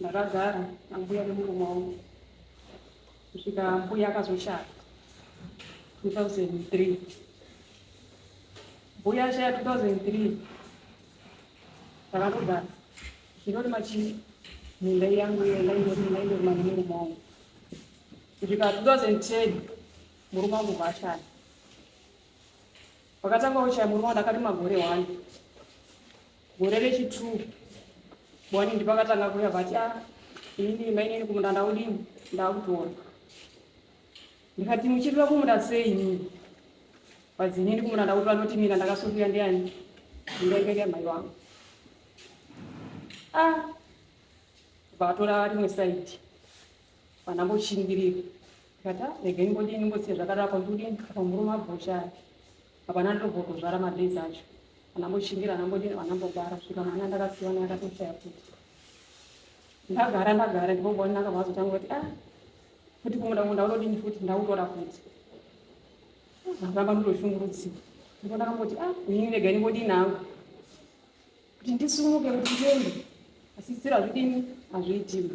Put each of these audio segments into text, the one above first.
Ndakagara ambuya nemurume wangu kusvika mbuya akazoshaya 2003 mbuya ashaya 2003 takanogara zvinoti machii minda yangu yaindorimana nemurume wangu kusvika 2010 murume wangu vashaya wakatanga kushaya murume wangu ndakati magore wani gore rechitwo boni ndipakatanga kuya vati a ah, inini mainini kumunda ndaudini ndakutora ndikati muchirira kumunda sei inini vadzinini kumunda ndakutora noti mina ndakasunduya ndiani ndingaikeke mhai wangu a ah, vatora rimwe saidi vanamboshingirira ndikati ah, regai mbodini mbosiya zvakadaro kwandikudini apa murume abhoshaya Hapana anotogona kuzvara madays acho anambochingira anambodini anambogara kusvika mwana ndakasiwa naye akatoshaya futi ndagara ndagara ndinongoona ndakabva azotanga kuti a ah, futi kumuda kumuda unodini futi ndautora futi ndakamba ndotoshungurudziwa ndipo ndakamboti a ah, inini rega ndingodini hangu kuti ndisumuke kuti ndiende asi sira zvidini hazviitima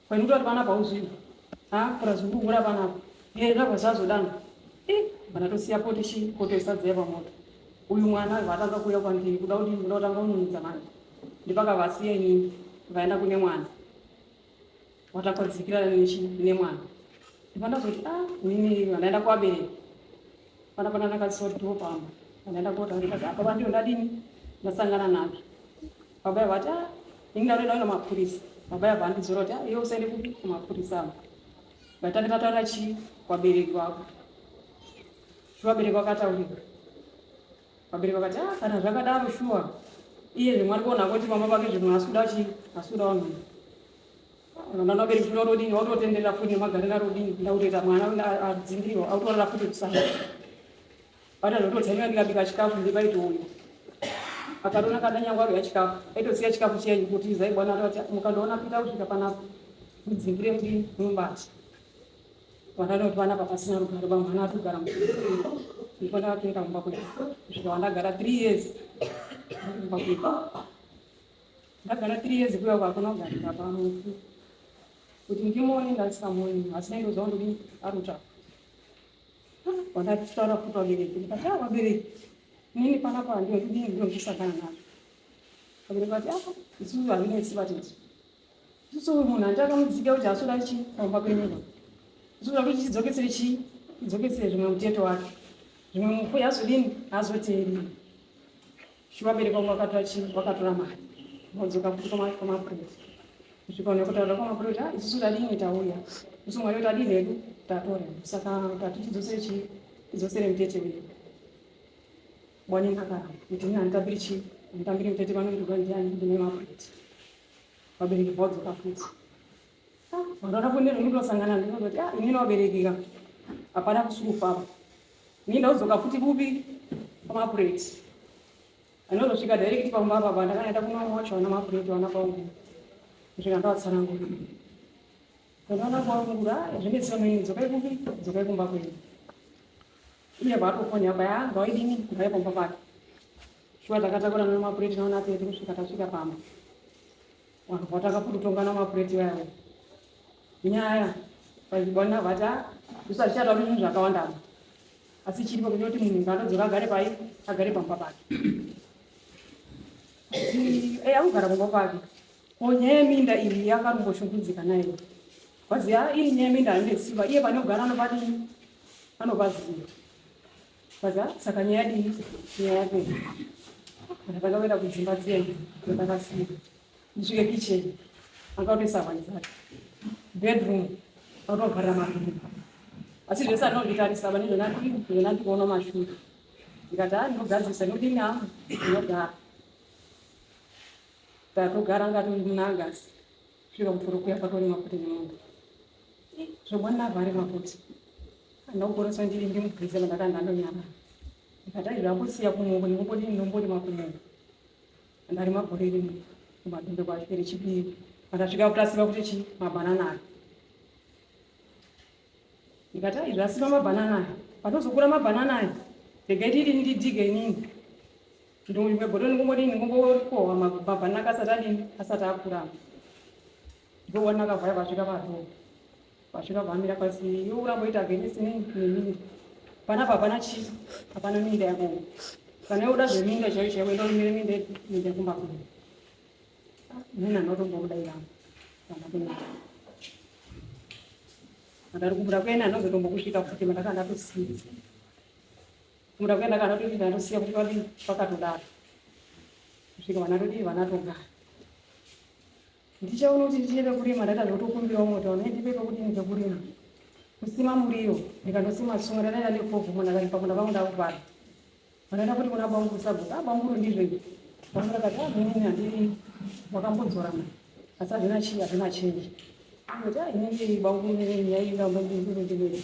Kwainuta kuti vana pauzvini. Ha, kura zvikuhura vana apa. Hei, zvabva zvazodana. Eh, bana tosiya poti shi, poto isadzaya pamoto. Uyu mwana aiva atanga kuuya kwandiri, kuda kuti ndikuda kutanga kununudza manje. Ndipakavasiya inini, vaenda kune mwana. Watakwadzikira nechi nemwana. Ndipandazoti, ah, nini vandaenda kuvabereki. Pana pana ndakasoti ndipo pamba. Vandaenda kota ndikati apa vandiyo ndadini? Ndasangana nacho. baba yavo vati ah, ini ndaunoenda kuenda mapurisa baba yavo vandidzora kuti ah, iwe usaende kupi kumapurisa avo vatange tataura chii kwabereki vako vabereki vakataurika vabereki vakati ah, kana zvakadaro shuwa iye zvimwe ari kuona kuti mama vake zvimwe asi kuda chii asi kuda vanhu ndana vabereki zvino rodini wautotenderera futi nemagarira rodini ndakutoita mwana adzingirirwa autorara futi kusana Bata ndototaimira ndikabika chikafu ndibaitoona akatona kana nyangwa ya chikafu aitosiya chikafu chenyu kuti izai bwana akati mukandoona pita kusvika panapa mudzingire kuti mumbati vandanoti vana papasina rugare vamwe vana atogara ndipo ndakatoenda kumba kwedu kusvika wandagara three years kumba kwedu ndagara three years kuya uko hakuna kugarika pamufu kuti ndimuone ndasikamuoni asi naindozva ndodii arutsvaka Wandakutaura kuti wabereki ndikati ah wabereki nini panapa handina kudini ndinozvisa kana navo vabereki vati ah isusu hazvinetsi vati isusu uyu munhu handi akamudzika kuti hasoda chi pamba kwenyika isusu akuti chidzokesere chii chidzokesere zvimwe muteto wake zvimwe mufu yazodini hazoteereri Shuwa bereka umwe akatora chii wakatora mari vodzoka futi kwamapurisa kusvika une kutaura kwamapurisa ah, isusu tadini tauya isu mwari tadini hedu tatora saka tati tidzosere chii tidzosere mutete uyu bwani akaramba kuti ini handitambiri chii handitambiri mutete vanondirwa ndiani ndine mapurisa vabereki vodzoka futi Ndakapo ndiri ndosangana ndinoti ah ini noberekeka hapana kusufa apa. Ini ndauzoka futi kupi pamapureti. Anozosvika direct pamba apa apa ndakanaita kuno wacho wana mapureti wana kwangu. Ndosvika ndawatsanangura. Ndakaona kwangura ah, zvine tsano ini dzokai kupi dzokai kumba kwenyu. Iye vaatofoni apa ya ah, ngawaidini ngauye pamba pake. Shuwa takatakura nemapureti naona apedzi kusvika tasvika pamba. Vakabva vatanga kutotongana mapureti vaya vaya. Nyaya vachibwana vati ah isu hatichatauri zvinhu zvakawanda apa. Asi chiri pakuti kuti munhu ngaanodzoka agare pai agare pamba pake. Asi eh akugara pamba pake. Ko nyaya yeminda iyi yakarumboshungurudzika naye. Kwazi ah iri nyaya yeminda haine simba iye pane kugara anopati anopaziva. Saka saka nyaya yadii nyaya yake ndakatanga kuenda kudzimba dziyeni ndakasiya ndisvike kitchen akatoisa hwai dzake bedroom akatovharira marii asi zvese anonditarisa pane zvona ndikuona mashuri ndikati haa ndinogadzirisa ndodini hangu ndinogara tatogara ngati munangasi Zviro mvuru kuya pako ni makuti ni munhu. Zvobwa navhari makuti. Anogorosa ndiri ndi mugwize mandakanda anonyama. Ndikadai zvakusiya kumoko nikumbodi ninombodi makumoko. Ndari magore rimwe kumadumbe kwa chipiri chipiri. Akasvika kutasiva kuti chi mabanana aya. Ndikadai zvasiva mabanana aya. Patozokura mabanana aya. Ndikaiti iri ndidige inini. Ndonyu kwegodo ndingombodini ndingombokova makubhabha naka asati adini asati akurama. Ndokuona akavhaya vasvika padoo. Vasvika vamira pasi iwe uramboita against nini nemiri. Pana papana chii hapana minda yako. Kana uda zveminda chaiyo chaiyo enda umire minda minda kumba kuno. Nina ndotombokudaira. Kana kuno. Ndari kubuda kwena ndozotombokusvika futi mandakanda kusiya. Kumda kuenda kana kuti vanosiya kuti vadii vakatodaro kusvika vana todii vana togara ndichaona kuti ndichine pekurima ndaita zvotokumbirawo mota vana ndipe pekuti ni pekurima kusima muriwo ndikandosima tsunga ndanaita nekovhu munhu akaripa kuna vangu ndakuvara vanaita kuti kuna banguru sabhuku abanguru ndizvo izvi vangu ndakati amini handii wakambodzora mani asi hazvina chii hazvina chenji kuti inenge banguru nyaya ingambondindindindindii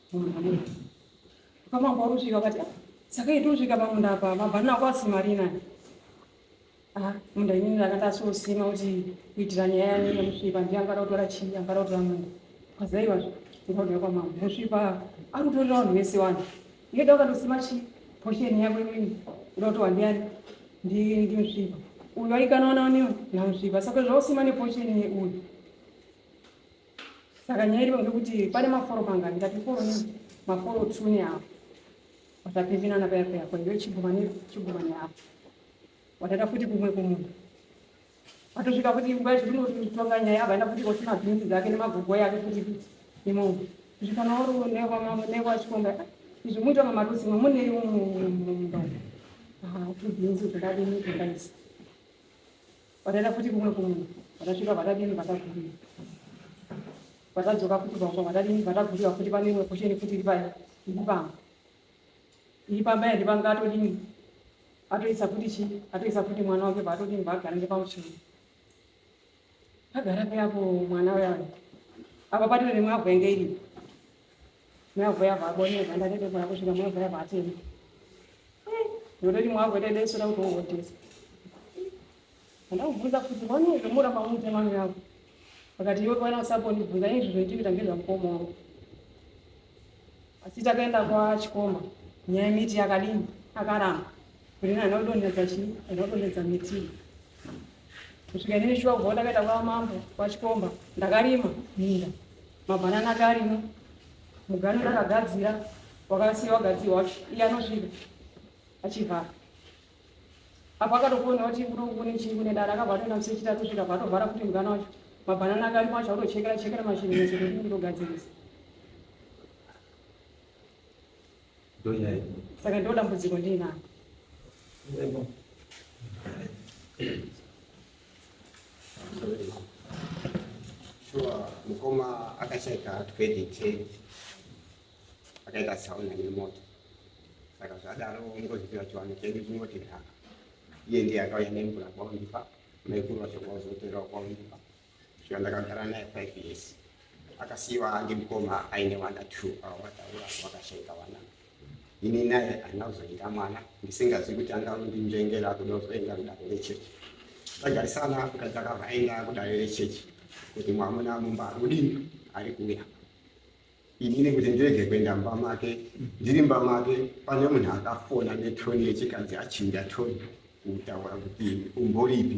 Kamabva kusvika kati ah, saka itosvika pamunda apa mabhanana ako asimarina ah, munda inini ndakanga asosima kuti kuitira nyaya yanini musvipa ndiye angada kutora chii angada kutora munda kwazaiwa ndikauda kwamama musvipa ari kutorera vanhu vese vanhu iyeda ukatosima chii posheni yako imweni uda kuti wandiani ndimusvipa uyu aikanaona uniwo namusvipa saka zvausima neposheni yeuyu saka nyaya iripo ndekuti pane maforo mangani ndati foro ne maforo tsune apo watapivinana paya paya ko iwe chigumani chigumani apo wataita futi kumwe kumunhu atosvika futi nguva yacho ndinotonga nyaya avaenda futi koti mabhinzi dzake nemagogo yake futi futi imongo zvikana uri nekwachikonga izvi muita mamarusi mamunei mumba tubhinzi zvakadini zvakaisa Vakaenda futi kumwe kumwe, vakasvika vakadini, vakagurira, vakadzoka futi pamba, vakadini, vakagurira futi. Pane imwe posheni futi iri paya, iri pamba, iri pamba yandi panga atodini, atoisa futi chii, atoisa futi mwana wake paatodini, paagara ngepamuchuru, agara peapo mwana uya apa patine nemwavhu yange iripo Mwavuya vabone vanda rede mwana kushira mwavuya vatini. Ndoredi mwavu rede eso na kuto wotesa. Vanda kuvuza kuti vano kumura pamute mwana yavo. Vakati iwe kwana usaponi kuvuza izvi zvoitika ngezva mukoma wavo. Asi takaenda kwa chikoma. Nyaya miti yakadini akaramba. Murina haana kudonhedza chii, haana kudonhedza miti kusvika inini shuwa kubva ndakaita kwa mambo kwachikomba ndakarima minda mabhanana ake arimo mugano ndakagadzira wakasiya wagadzirwa wacho iye anosvika achivhara apo akatofona kuti kune chii kune dara akabva atoenda musechita atosvika bva atovhara kuti mugano wacho mabhanana ake arimo acho akutochekera chekera mashinini sekutindogadzirisa saka ndo dambudziko ndiinako shuwa mukoma akashaika credit akaita sauna nemoto saka zvadaro ngozvipiwa chiwano chedu chinoti nhaka iye ndiye akauya nemvura kwaundipa maikuru vacho kwauzoterawo kwaundipa Shuwa ndakagara naye five years akasiiwa ndimukoma aine vana two avo vataura vakashaika vana ini naye haina kuzoita mwana ndisingazivi kuti anga undinzvengera kuda kuzoenda kudare rechechi tagarisana mukadzi akabva aenda kudare rechechi kuti mwamuna mumba ari kudini ari kuuya inini kuti ndirege kuenda mumba make ndiri mumba make pane munhu akafona netoni yechikadzi achinja toni kutaura kuti umboripi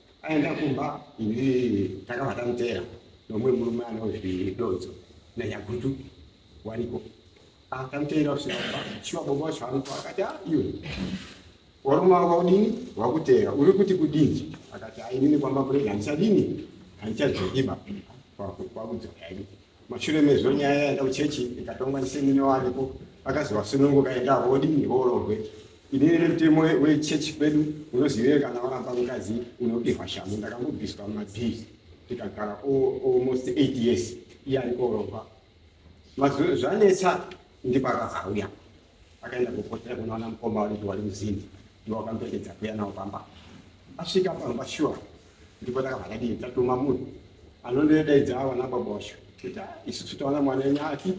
aenda kumba takabva tamuteera nomwe murume anozvidodzo nanyagutu wariko ah, tamuteera kusvika kumba shuwa baba wacho aruko akati ah, iwe warume wako kudini wakuteera uri kuti kudini akati ainini kwamba kurega handichadini handichadzokiba kwakudzoka ini mashure mezvo nyaya yaenda kuchechi ikatongwa ndisemine wariko akazovasununguka enda vodini vororwe Inini nemutemo wechurch kwedu unoziveyo kana waramba mukadzi unopihwa shamhu ndakambobviswa mumabhizi tikagara almost eight years iye ari koromba mazuro zvanetsa ndipo akazauya akaenda kupotera kunoona mukoma waniti wari muzini ndiwo akamupetedza kuya nawo pamba asvika pamba shuwa ndipo takabva tadii tatuma munhu anondoedaidza awana baba wacho kuti ah, isusu taona mwana wenyu ati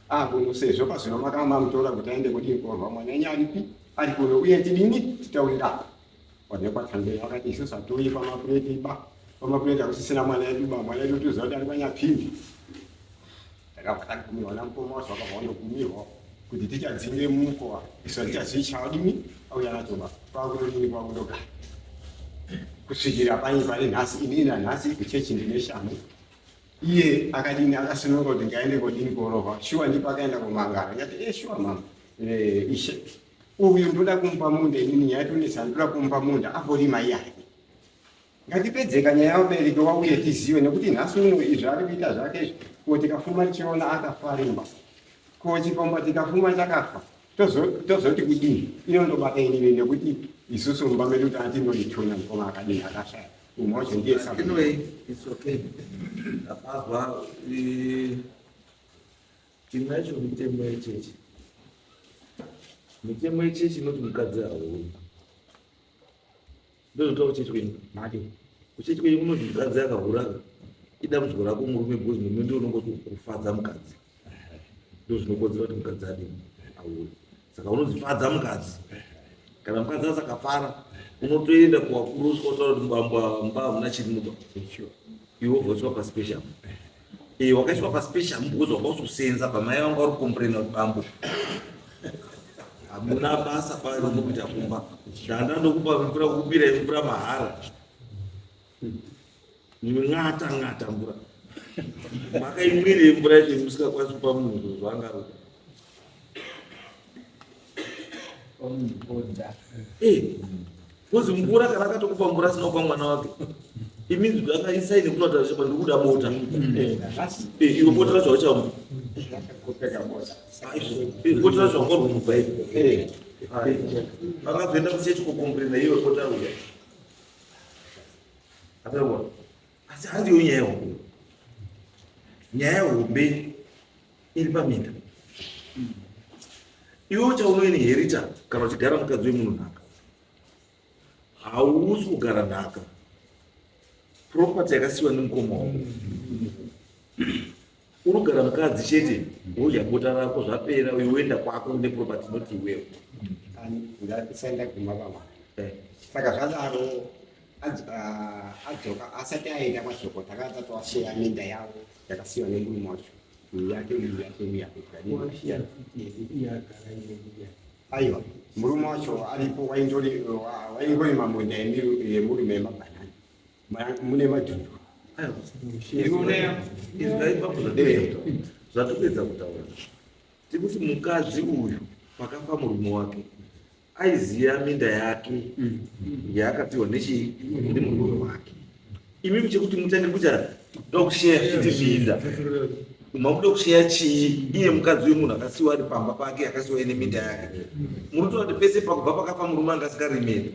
Ah kuno sezvo pazvino makama mutora kuti aende kudii korwa mwana enyu aripi ari kuno uye tidini titaurira onekwa thambei vakati isusu hatiuyi pamapureti ba pamapureti hakusisina mwana edu ba mwana edu tiziva kuti ari kwanyapindi ndakabva tagumirwa namukoma wacho vakabva vandogumirwa kuti tichadzinge mukowa isu hatichazvicha wadini auya nacho ba kwakutodini kwakundogara kusvikira panye pari nhasi inini nanhasi kuchechi ndine shamu iye akadini akasununguka kuti ngaende kodini korohwa shuwa ndipo akaenda kumangara ngati e eh, shuwa mama eh, ishe uyu ndoda kumupa munda inini nyaya yatonetsa ndoda kumupa munda akorima iyake ngatipedzeka nyaya yamubereki wauye tizive nekuti nhasi uno izvi ari kuita zvake izvi ko tikafuma tichiona akafarimba ko chikomba tikafuma chakafa tozoti kudini inondobata inini nekuti isusu mumba medu tati ndoituna mukoma akadini akashaya Anyway, it's okay. Apazwa chimwe yacho mitemo yechechi. Mitemo yechechi inoti mukadzi hauni. Ndozotaura kuchechi kwenyu. Mati. Kuchechi kwenyu kunoti mukadzi akahura idambudziko rako murume because murume ndiye unongoti kufadza mukadzi. ndozvinokonzera kuti mukadzi adini aure saka unozifadza mukadzi kana mukadzi asakafara unotoenda kuvakuru usikutaura kuti mbamba mba hamuna chiri muba iwe wobvoswa paspecial e wakaiswa paspecial because wanga usosenza pamai vanga uri komprena kuti bambo hamuna basa panokuita kumba danda ndokupa mvura kukupira mvura mahara Ng'ata ng'ata mvura. Makaimwire mvura ine musikakwanisi kupa munhu zvinhu zvaangaroda. Eh, Kozi mvura kana akatokupa mvura asina kupa mwana wake. Iminzi kuti akaisaine kuti watarisha pa ndikuda bota. Eh, iro bota racho hauchamwa. Eh, Bota racho hangorwa mubhaibhi. Vakazoenda kuchechi kokomburena iwe bota ruya. Apewa. Asi handiyo nyaya hombe. Nyaya hombe iri paminda. Iwe uchaunoinherita kana uchigara mukadzi wemunhu nhaka. Hausi kugara nhaka. Property yakasiwa nemukoma wako. unogara mukadzi chete wodya bota rako zvapera uyo woenda kwako une property not iwewo ndasaenda kumba baba eh. saka zvadaro ah, adzoka asati aenda mashoko takadza twasheya minda yavo yakasiwa nemurume wacho aiwa murume wacho aripo waingorima munda yemurume yemabhanani mune madhimbu zvatopedza kutaura tikuti mukadzi uyu pakafa murume wake aiziva minda yake mm. yaakapiwa nechii nemurume wake imimi chekuti mutange kuita dokusheya kuti minda makuda kusheya chii iye mukadzi uyu munhu akasiwa ari pamba pake akasiwa ine minda yake mm. munotoona kuti pese pakubva pakafa murume angasikaremeri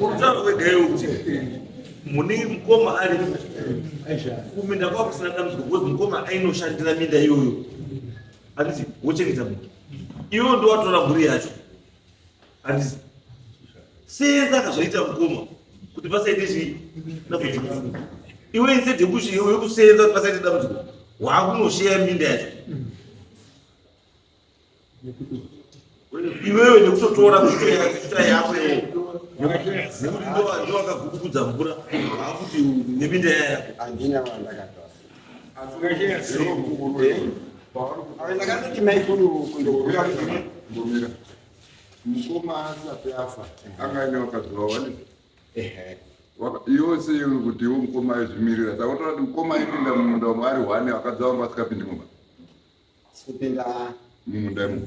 urutauro wegayo kuti mune mukoma ari kuminda kwava kusina dambudziko because mukoma ainoshandira minda iyoyo anditi wochengeta munhu iwo ndowatora mhuri yacho senza akazoita mukoma kuti pasaite zvi dambudziko iwe instead yekusenza kuti pasaite dambudziko waakunosheya minda yacho iwewe nekutotora kuita yako nekuti ndovakagugudza mvura akuti neminda yayako ndakatoti maikuru kundogura kumira mukoma asati afa anga aine vakadzi vavo vane yose iyo kuti iwo mukoma aizvimirira saka unotoona kuti mukoma aipinda mumunda wamwe ari hwane vakadzi vavo vasingapindi mumba mumunda imomo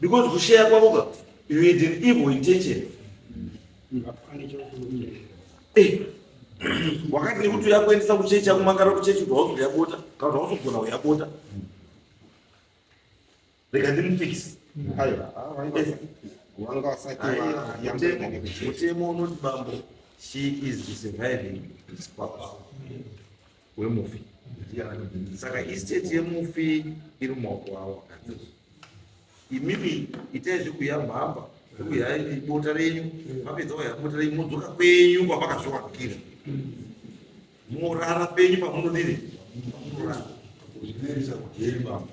because kusheya kwako ka you had an evil intention eh, wakati nekuti uyakuendesa kuchechi yako makara kuchechi kuti hauzoda yabota kana kuti hauzogona uyabota rega ndimufix mutemo unoti bambo she is surviving is papa wemufi saka estate yemufi iri mumaoko avo akadzozo imimi itai zvekuya mhamba zvekuya bota renyu mapedza waya bota renyu modzoka kwenyu kwamakazviwakira morara penyu pamunodini pamunorara kuzvinerisa kujeri bamba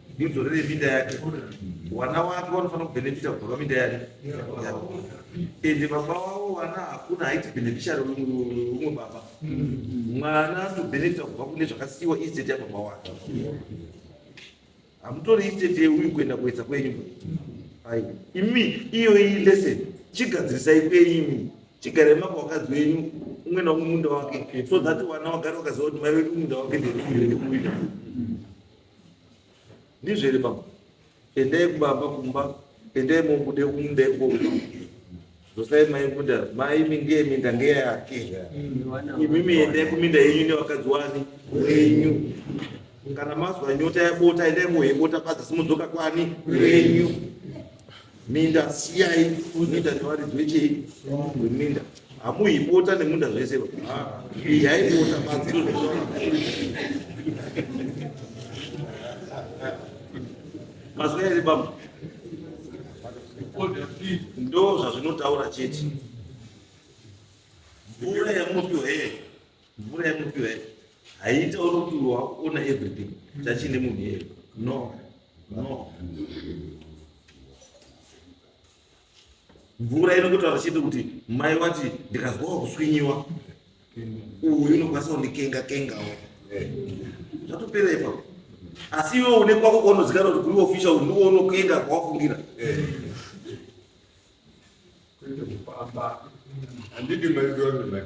ndidzorere minda yake vana wake vanofanira kubhenefita kubva paminda yake ende baba wavo vana hakuna haiti bhenefishari umwe baba mwana anotobhenefita kubva kune zvakasiyiwa isteti yababa wake hamutori isteti yeuyu kuenda kuedza kwenyu ai imi iyoyi lesson chigadzirisai kwenyu chigarai maka wakadzi wenyu umwe naumwe munda wake so that vana wagare wakaziva kuti mai vedu munda wake ndeuyu ndizvo here baba endai kubaba kumba endai mobude kumda ikoko dzosai mai kuda mai minge minda ngeyake imimi endai kuminda yenyu nevakadzi wani wenyu kana mazwa nyota yabota endai mohebota padza simudzoka kwani wenyu minda siyai minda nevaridzi vechei weminda hamuipota nemunda zvese yaipota madziro mazina ere baba ndo zvazvinotaura chete mvura yamunopiwa here mvura yemupiwa yake haiita uri kuti wakuona everything chachine munhu iyeyo no no mvura inototaura chete kuti mai wati ndikazwawo kuswinyiwa uyu unokwanisa kundikenga kengawo zvatopera ipapo asi iwe une kwako kwaunozikana kuti kuri official ndiwo unokenga kwawafungira handidi maiona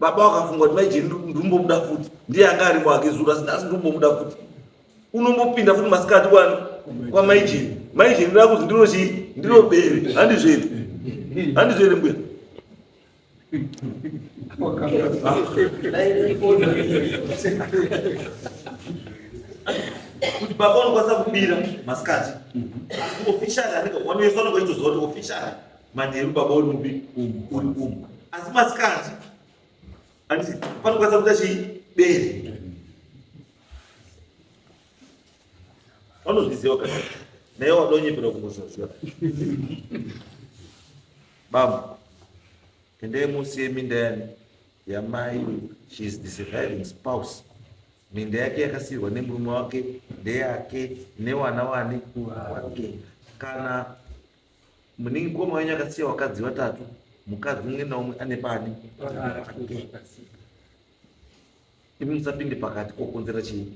baba wakafunga kuti maijeni ndikumbobuda futi ndiye anga ari wake zura asi ndasi ndikumbobuda futi unombopinda futi masikati kwani kwamaijeni maijeni rakuzi ndiro chii ndiro bere handizvere handizvere mbuya kuti baba unokwanisa kubira masikati officially anenge wanoisana kwaitoziva kuti officially manheru baba uri mubi umu uri umu asi masikati anditi panokwanisa kuita chii bere vanozviziva ka naye wadonyepera kungozvaziva baba endai musi yeminda yani yamai she is the surviving spouse minda yake yakasiyirwa nemurume wake ndeyake newana wani wake kana Muningi mukoma wenyu akasiya vakadzi vatatu, mukadzi umwe naumwe ane paani imi musapinde pakati kokonzera chii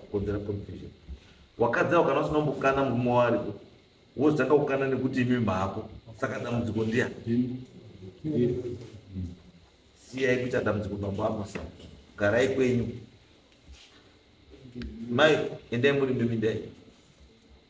kokonzera confusion wakadzi avo kana usina kumbokana murume wariko wozotanga kukana nekuti imi mhako saka dambudziko ndiya siyai kuita dambudziko mambo amasa garai kwenyu mai endai muri mimindai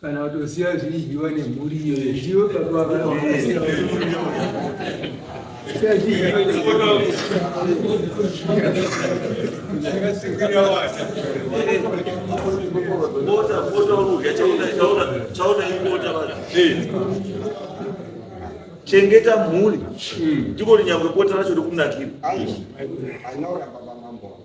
kana kutosiya zvidyiwa nemhuri iyo zviwe chengeta mhuri ndiko linyangwe bota racho rikunakira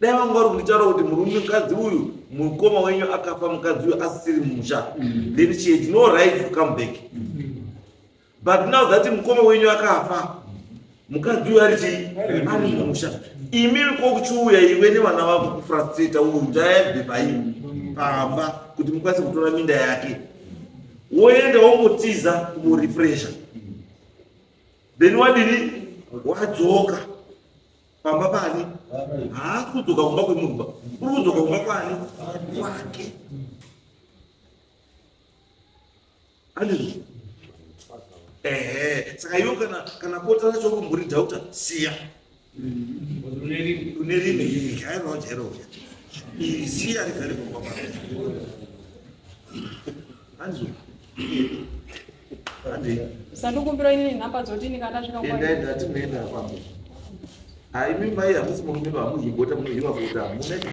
dai vanga vari kunditaura kuti murume mukadzi uyu mukoma wenyu akafa mukadzi uyu asisiri musha then she had no right to come back but now that mukoma wenyu akafa mukadzi uyu ari chii ari musha imi kokuchiuya iwe nevana vako kufrustrata uyu ndayabve paii pamba kuti mukwanise kutora minda yake woenda wongotiza kumurefresha then wadini wadzoka pamba paani haasi kudzoka kumba kwemunhu ba uri kudzoka kumba kwaani kwake andizvo ehe saka iwo kana kana kota racho kumburi dauta siya une rime jairawo jairoja iri siya rigare kumba kwake andizvo Sandikumbira ini nhamba dzotini kana ndasvika kwa. Endai ndati muenda kwambo. Haimi mai hamusi murume vamuhibota munohiwa kuta hamuna